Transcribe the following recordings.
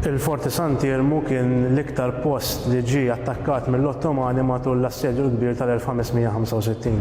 Il-Forti Sant'Iermu kien l-iktar post li ġie attakkat mill-Ottomani matul l-assedju l-kbir tal-1565.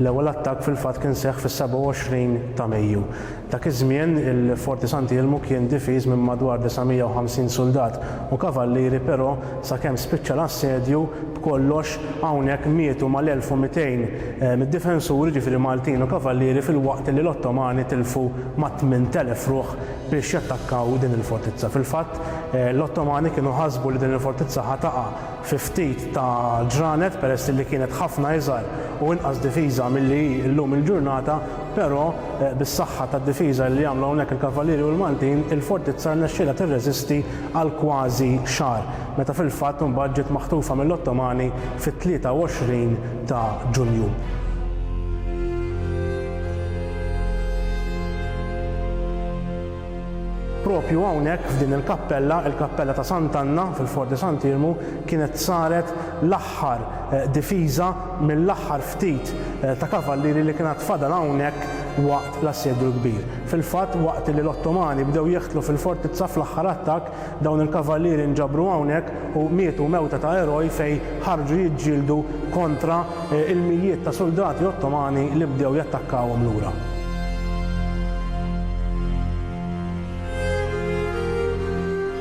L-ewwel attakk fil-fatt kien seħħ fis-27 ta' Mejju. Dak iż-żmien, il-Forti Santi Ilmu kien difiż minn madwar 950 suldat u kavallieri però sakemm spiċċa l-assedju, b'kollox, hawnhekk mietu mal-1200 mid-difensuri, jiġifieri Maltin u kavallieri filwaqt li l-Ottomani tilfu mat-8000 ruħ biex jattakkaw din il-fortizza. Fil-fatt, l-Ottomani kienu ħasbu li din il-fortizza ħa taqa' fi ftit ta' ġranet peress li kienet ħafna iżgħar u inqas difiża milli hi llum il-ġurnata, Però, bis-saħħa tad-difiża li għamlu hawnhekk il-Kavallieri u l-Maltin, il-Fortizza rnexxielha tirreżisti għal kważi xahar, meta fil-fatt imbagħad ġiet maħtufa mill-Ottomani fit-23 ta' Ġunju. Proprju hawnhekk f'din il-kappella, il-Kappella ta' Sant'Anna fil-Fort de Sant'Irmu, kienet saret l-aħħar difiża mill-aħħar ftit ta' kavallieri li kien għad fadal hawnhekk waqt l-Assedju l-Kbir. Fil-fatt, waqt li l-Ottomani bdew jeħtlu fil-fortizza fl-aħħar attakk, dawn il-kavallieri nġabru hawnhekk u mietu mewta ta' eroj fejn ħarġu jiġġieldu kontra l-mijiet ta' suldati Ottomani li bdew jattakkawhom lura.